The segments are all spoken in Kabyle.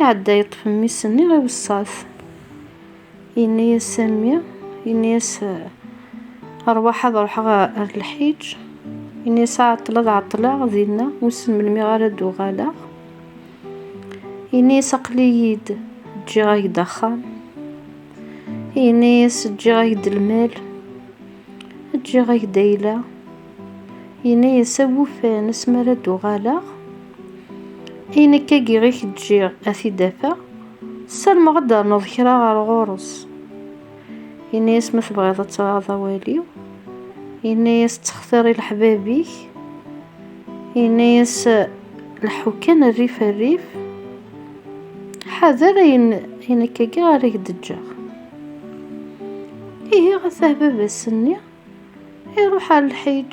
Iɛedda yeṭṭef mmi-s-nni i wesseɛet. Yenna-yas Sammi, yenna-yas rwaḥ ad ruḥeɣ ar lḥiǧ. Yenna-yas ɛeṭṭel ad ɛeṭṭleɣ dinna, wissen melmi ara d-uɣaleɣ. Yenna-yas aql-iyi-d ǧǧiɣ-ak-d axxam. Yenna-yas ǧǧiɣ-ak-d lmal, ǧǧiɣ-ak-d ayla. Yenna-yas awufan asmi ara d-uɣaleɣ. I nekk agi i k-ǧǧiɣ ad t-id-afeɣ, ssarmeɣ ad d-ternuḍ kra ɣer ɣur-s. Yenna-yas ma tebɣiḍ ad traɣeḍ awal-iw. Yenna-yas ttxtir i leḥbab-ik. Yenna-yas leḥḥu kan rrif rrif. Ḥader ayen i nekk agi ara k-d-ǧǧeɣ. Ihi ɣas ahbab ass-nni, iruḥ ar lḥiǧ.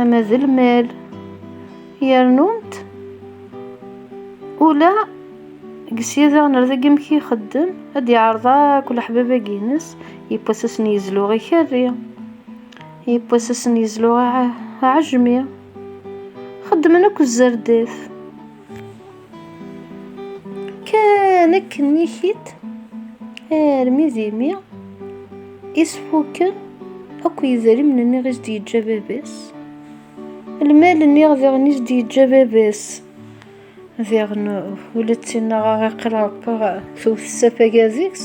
ama d lmal yernunt ula gsya daɣen ar dagi amek ixeddem ad iɛreḍ akk leḥbab-agi-ines yewwasasen yezluɣ ikerri yewwasasen yezluɣ aɛejmi xeddmen akk zzerdif Kan akken nni-k-id armi d imi isfuken akk yidrimen-nni i s-d-yeǧǧa baba-s. Lmal-nni diɣen i s-d-yeǧǧa baba-s. Diɣen ula d tinnaɣ aɣ-iqil Ṛebbi tewwet s afagad-is.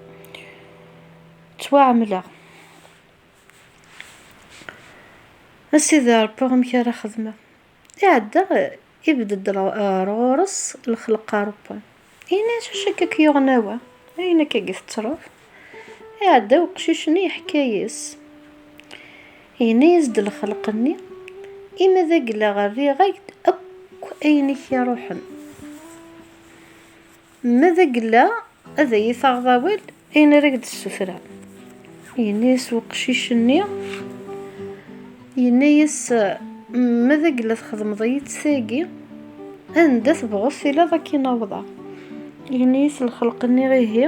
ttwaɛemleɣ. A Sidi Ṛebbi amek ara xedmeɣ? Iɛedda ibedd-d ar ɣur-s lexleq-a Ṛebban. Yenna-as, Acu akka i k-yuɣen a wa? Ayen akka i d-tettruḍ? Iɛedda weqcic-nni yeḥka-yas. Yenna-yas-d lexleq-nni, Imi d aglaɣ rriɣ-ak-d akk ayen i k-iṛuḥen. Ma d agella, ad iyi-taɣeḍ awal ayen ara k-d-ssutreɣ. Yenna-yas weqcic-nni, yenna-yas, Ma d agella txedmeḍ-iyi-tt tagi, anda tebɣuḍ tiliḍ ad k-in-awḍeɣ. Yenna-yas lxelq-nni, Ihi,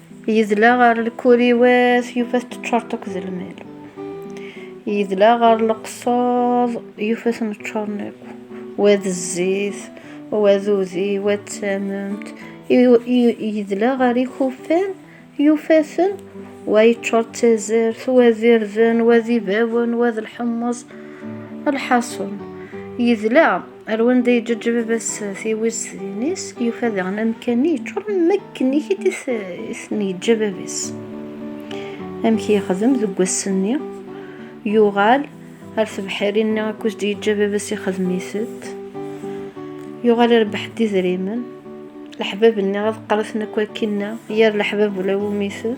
Yedla ɣer lkuriwat yufa-t teččuṛt akk d lmal. Yedla ɣer leqṣuḍ yufa-ten ččuṛen akk. Wa d zzit, wa d udi, wa d tamemt. Yedla ɣer ikufan yufa-ten wa yeččuṛ d tazart, wa d irden, wa d ibawen, wa d lḥemmeẓ. Lḥaṣun, yedla. Ar wanda yeǧǧeǧ baba-s tiwiztin-is, yufa daɣen amkan-nni yeččuren am akken i ten-yeǧǧa baba-s. Amek yexdem deg wass-nni, yuɣal ar tebḥirin-nni akkuz d-yeǧǧa baba-s ixdem-itent, yuɣal irebbeḥ-d idrimen, leḥbab-nni ad qqaṛ-iten akk akkinna, yir leḥbab ula wumi-ten.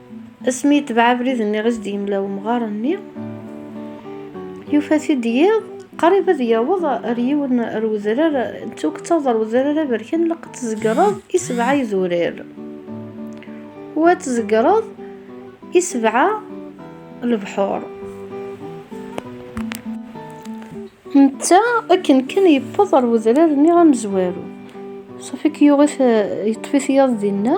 Asmi yetbeɛ abrid-nni i s-d-yemla umɣar-nni, yufa-t-id yiḍ, qrib ad yaweḍ ar yiwen ar wedrar, tuget taweḍ ar wedrar aberkan, ilaq ad tzegreḍ i sebɛa idurar. U ad tzegreḍ i sebɛa lebḥur. Netta akken kan yewweḍ ar wedrar-nni amezwaru, safi akka yuɣ-it, yeṭṭef-it yiḍ dinna.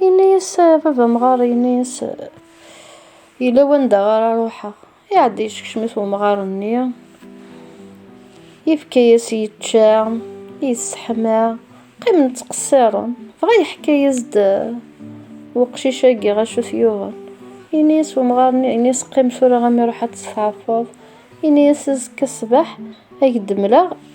Yenna-yas baba amɣar, yenna-yas yella wanda ara ruḥeɣ. Iɛedda yeskecem-it umɣar-nni, yefka-yas yečča, yesseḥma, qqimen ttqessiren. Dɣa yeḥka-yas-d weqcic-agi ɣacu t-yuɣen. Yenna-yas umɣar-nni, yenna-yas qqim tura imi ruḥ ad tt-tɛeffuḍ. Yenna-yas azekka ṣṣbeḥ ad ak-d-mleɣ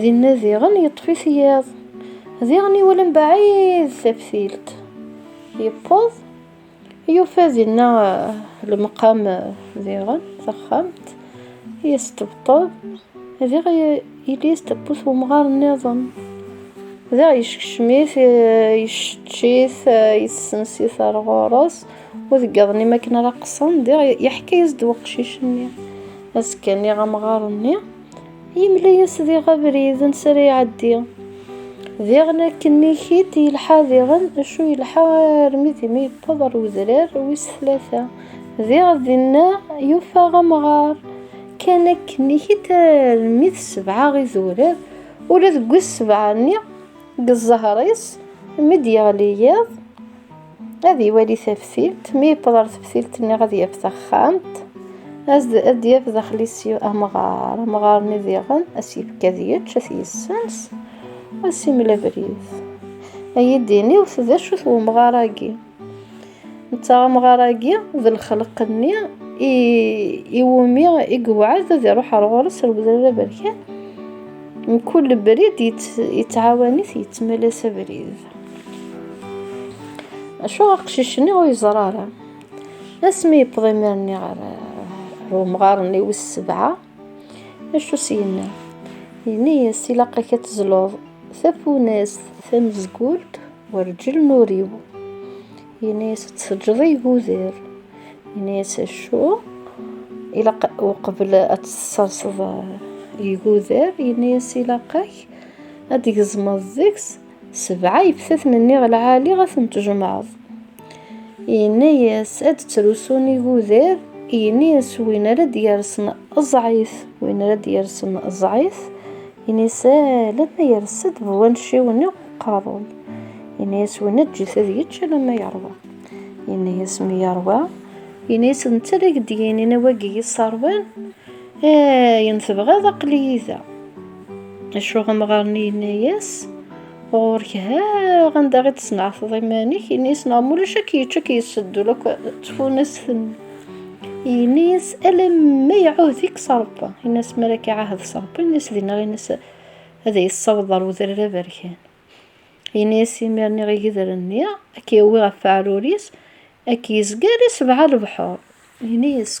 Dinna diɣen yeṭṭef-it yiḍ. Diɣen iwala mebɛid taftilt. Yewweḍ, yufa dinna lemqam diɣen, taxxamt, yesṭebṭeb. Diɣ yelli-s tewwet umɣar nniḍen. Diɣ yeskcem-it, yessečč-it, yessens-it ar ɣur-s. Ur deg iḍ-nni mi akken ara qqsen, diɣ yeḥka-as-d weqcic-nni. Azekka nniɣ amɣar-nni. Yemla-yas diɣ abrid n sara iɛeddi. Diɣen akken ikit yelḥa diɣen, acu yelḥa armi d imi yewweḍ ar wedrar wis tlata. Diɣ dinna yufa amɣar. Kan akken ikit armi d sebɛa idurar, ula deg wis sebɛa-nni, deg ẓẓher-is, mi d-yeɣli yiḍ, ad iwali taftilt mi yewweḍ ɣer teftilt nniɣ ad yaf taxxamt ad d-yaf daxel-is amɣar amɣar-nni diɣen ad s-yefk ad yečč ad t-yessens ad s-imel abrid ad yi-d-iniwt d acu-t umɣar-agi netta amɣar-agi d lxelq-nni iwumi i yewɛed ad iruḥ ar ɣur-s ar Wedrar Aberkan mkul abrid yettɛawan-it yettmala-s abrid Acu aqcic-nni ur yeẓra ara. Asmi yewweḍ imir-nni ɣer umɣar-nni wis sebɛa, acu s-yenna? Yenna-yas ilaq-ak ad tezluḍ tafunast tamezgult werǧel nuriw. Yenna-yas ad tseǧǧeḍ iguder. Yenna-yas acu? Ilaq uqbel ad tesserseḍ iguder, yenna-yas ilaq-ak ad tgezmeḍ deg-s Sebɛa yeftaten nniɣ lɛali ad ten-tjemɛeḍ. Yenna-yas ad d-ttrusun igudar, yenna-yas win ara d-yersen ẓɛif, win ara d-yersen ẓɛif, yenna-yas alamma yers-d bu wanciw-nni uqerruy. Yenna-yas winna ǧǧet ad yečč alamma yeṛwa. Yenna-yas mi yeṛwa, yenna-yas d netta ara ak-d-yinin a wagi yesseṛwan, ayen tebɣiḍ aql-iyi da. Acuɣ amɣar-nni yenna-yas, ɣur-k ha anda i d-tesneɛteḍ iman-ik, ini-yas neɣ mulac ad k-yečč ad k-yesseddul akk tfunast-nni. Ini-yas alamma iɛuhd-ik s Rebbi, ini-yas mi ara k-iɛahed s Rebbi, ini-yas dinna ini-yas ad yi-tessaweḍ ɣer udrar aberkan. Ini-yas imir niɣ igedren-nni ad k-yawi ɣef weɛrur-is, ad k-yezger i sebɛa lebḥur. Ini-yas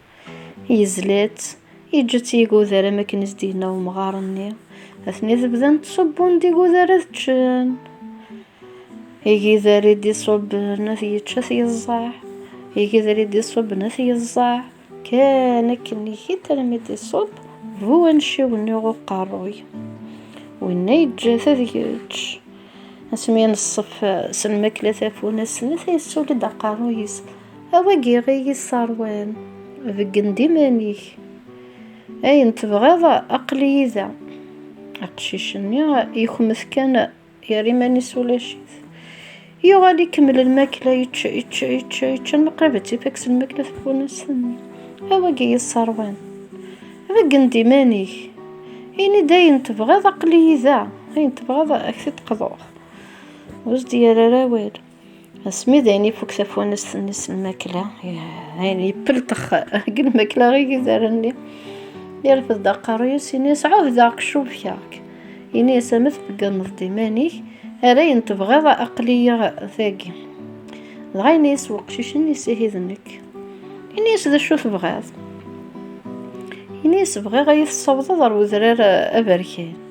Yezla-tt, yeǧǧa-tt yiguder am akken i s-d-yenna umɣar-nni. Atni tebdan tṣubbun-d iguder ad ččen. Igider i d-iṣubben ad yečča t-yeẓẓaɛ. Igider i d-iṣubben ad t-yeẓẓaɛ. Kan akken ihi-d armi d-iṣubb bu anciw-nni ɣer uqerruy. Winna yeǧǧa-t ad yečč. Asmi i neṣṣef s lmakla tafunast-nni, ta yessuli-d aqerruy-is. A wagi i yi-sserwan, beggen-d iman-ik. Ayen tebɣiḍ aql-iyi da. Aqcic-nni yekmet kan, yerra iman-is ulac-it. Yuɣal ikemmel lmakla, yečča, yečča, yečča, yečča, almi qrib ad tt-ifak s lmakla tafunast-nni. A wagi i yi-sserwan, beggen-d iman-ik. Ini-d ayen tebɣiḍ aql-iyi da. Ayen tebɣiḍ ad k-t-id-qḍuɣ. Ur as-d-yerri ara awal. Asmi d ayen ifuk tafunest-nni s lmakla, ayen yepeltex deg lmakla i yizar-nni, yerfed-d aqerru-yas, ini-yas, ɛuhdeɣ-k, cubkeɣ-k. Ini-yas, ama tbegganeḍ-d iman-ik, ar ayen tebɣiḍ aql-iyi dagi. Dɣa ini-yas weqcic-nni, ihi d nekk. Ini-yas, d acu tebɣiḍ? Ini-yas, bɣiɣ ad iyi-tessawḍeḍ ar udrar aberkan.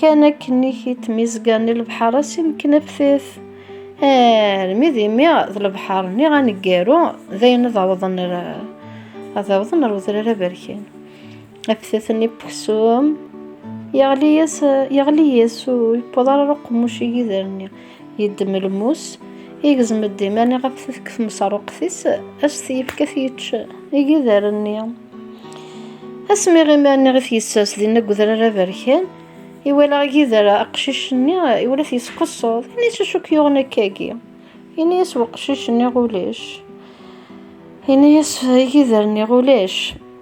Kan akken i k-tmizgan i lebḥer ass imekken aftet. Armi d imi d lebḥer-nni aneggaru d ayen ad awḍen ad awḍen ar udrar aberkan. Aftet-nni n uksum yeɣli-yas yeɣli-yas ur yewweḍ ara uqemmuc igider-nni. Yeddem lmus, igzem-d iman ɣef tmesruqt-is, as t-yefk ad t-yečč igider-nni. Asmi iman i t-yessers dinna deg udrar aberkan, iwala igider aqcic-nni, iwala t-yesqeṣṣuḍ, ini-as acu k-yuɣen akkagi. Ini-as weqcic-nni ulac. Ini-as igider-nni ulac.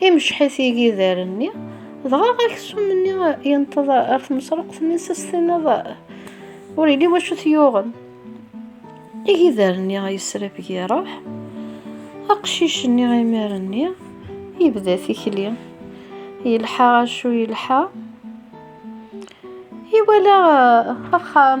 Imceḥ-it igider-nni, dɣa aksum-nni yenṭeḍ ar tmesruqt-nni s as-tiniḍ ur yelli wacu t-yuɣen. Igider-nni yesrabeg iruḥ, aqcic-nni imir-nni yebda tikli. Yelḥa acu yelḥa, iwala axxam.